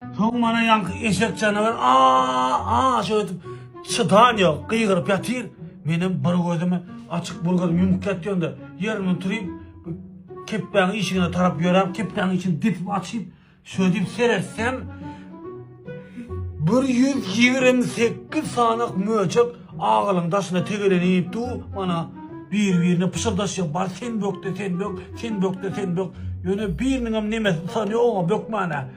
Soň mana ýaňky eşek janawer a-a şeýdip çydan ýok, gygyryp ýatyr. Menem bir gözümi açyk, bir gözümi ýumyk ýatýanda, ýerimden turyp, kepbäň işigine tarap ýöräp, kepbäň işini depip açyp, şeýdip seretsem, bir ýüz ýigrimi sekiz sany möjek agalyň daşyna tegelenip dur, mana bir-birine pyşyrdaşýar, bar sen bök-de, sen bök, sen bök-de, sen bök. Ýöne biriniňem nemesi sany ýok, bökmäne.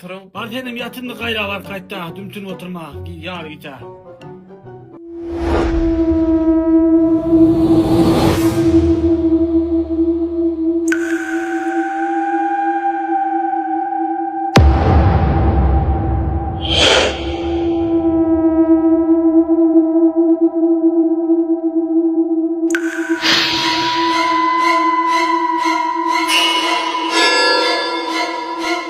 Turuň. Bar senem ýat indi gaýra bar kaýtda dümtünip oturma ýar gita.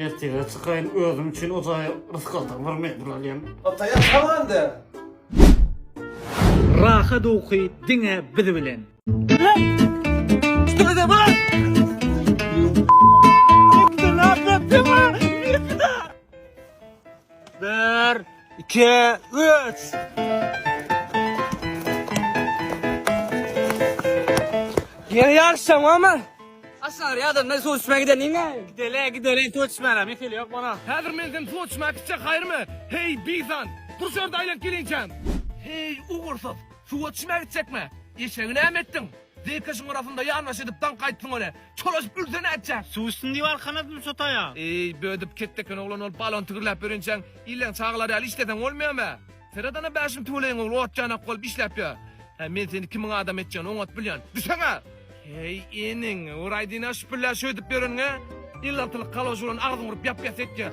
Ertege çykaýyn özüm üçin o jaýa rysg aldygymy bir mejbur alýan. Ataýa galanda. Rahat uky diňe biz bilen. Bir, iki, üç! Ýene ýaryşja mama. Aşar ýa-da men suw içmä gideniňe. Gidele, gidele, suw içmäne, mekeli ýok mana. Häzir men seni suw içmä gitjek haýrymy? Heý, bizan! Dur şu ýerde aýlanyp gelinçäm. Heý, ugursyz! Suwa içmä gitjekmi? Eşegi näme etdiň? Zeýkeşiň arasynda ýanbaş edip daňk aýtdyň ony. Çolaşyp ülse nätjek? Suw içsin diýip alkanadymy şo taýa? Eý, bödip ketdi eken oglan ol balon tigirläp ýörençäň, illeň çagalary ýaly işleseň bolmaýamy? Seredana bäşiň tüweleýiň ogly ot ýanak bolup işläp ýör. Hä, men seni kimiň adamy etjegini oňat bilýän. Düşsene! Heý, iniň, uraýdyna şüpüllä şöýdüp ýöreniňe, il altylyk kaloş bolan agzyňy urup ýap-ýas etjek.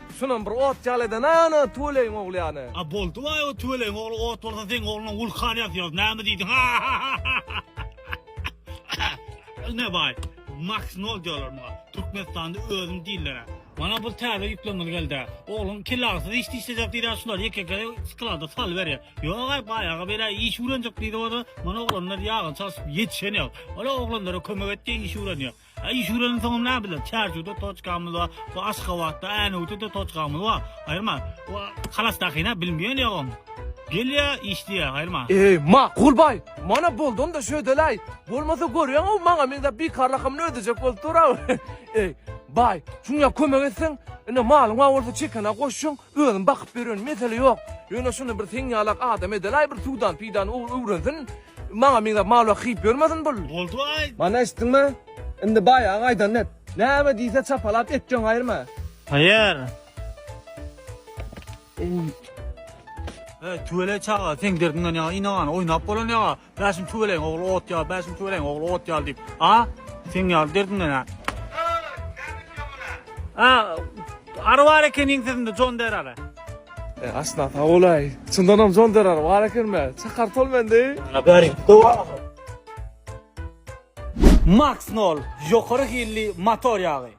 Şunam bir ot ýaly eden ana tüweleýiň ogly ýany. A boldy baý o tüweleýiň ogly ot bolsa seň ogluna wulkan ýazýarys näme diýdiň ne baý Maks nol diýerler muňa Türkmenistanda özüni diýillerä. Mana bir täze ýüklemeli geldä. Ogluň kellagysyz iş işlejek diýdä şulary ýeke-ýeke sklada salyberýä. Ýogaý baý aga beýle iş öwrenjek diýdi oda. Mana oglanlar ýagyny çalşyp ýetişen ýok. Ola oglanlara kömek et diýen iş öwrenýär. Iş ýöreniň soňy näbiler? Çärjewde toçkamyz bar, bu Aşgabatda, Änewde-de toçkamyz bar. Aýyrma. Bu halas dakyna bilmeýän ýogam. Gelýä, işleýä, aýyrma. Eý, makul baý! Mana boldy onda şödeläý! Bolmasa görýäň-ow maňa meňzäp bikarlakamyny ödejek bolup dur-aw. Eý, baý, şuňa kömek etseň, ine malyň bar bolsa çekene goşjun, Özüm bakyp bererin mesele ýok. Ýöne şuny bir seň ýalak adam edelaý bir suwdan peýdan öwrensin. Maňa meňzäp mal wagt hyýyp ýörmesin bul. Boldy aý. Mana eşitdiňmi? Indi baýagyň aýdanyny et. Näme diýse çapalap et jöň aýyrma. Haýyr. Eý tüweleý çaga seň derdiňden ýaňa ynagany oýnap bolan ýaga. Bäşim tüwelegiň ogly ot ýaly, bäşim tüwelegiň ogly ot ýaly diýip. A, seň ýaly derdiňden a. A, ary bar ekeniň sesinde Jon der ary. E, aşna sag bolaý. Çyndanam Jon der ary bar ekenme? Çakar tol mendi. Ana bäri gowa. Max nol, ýokary hilli motor ýagy.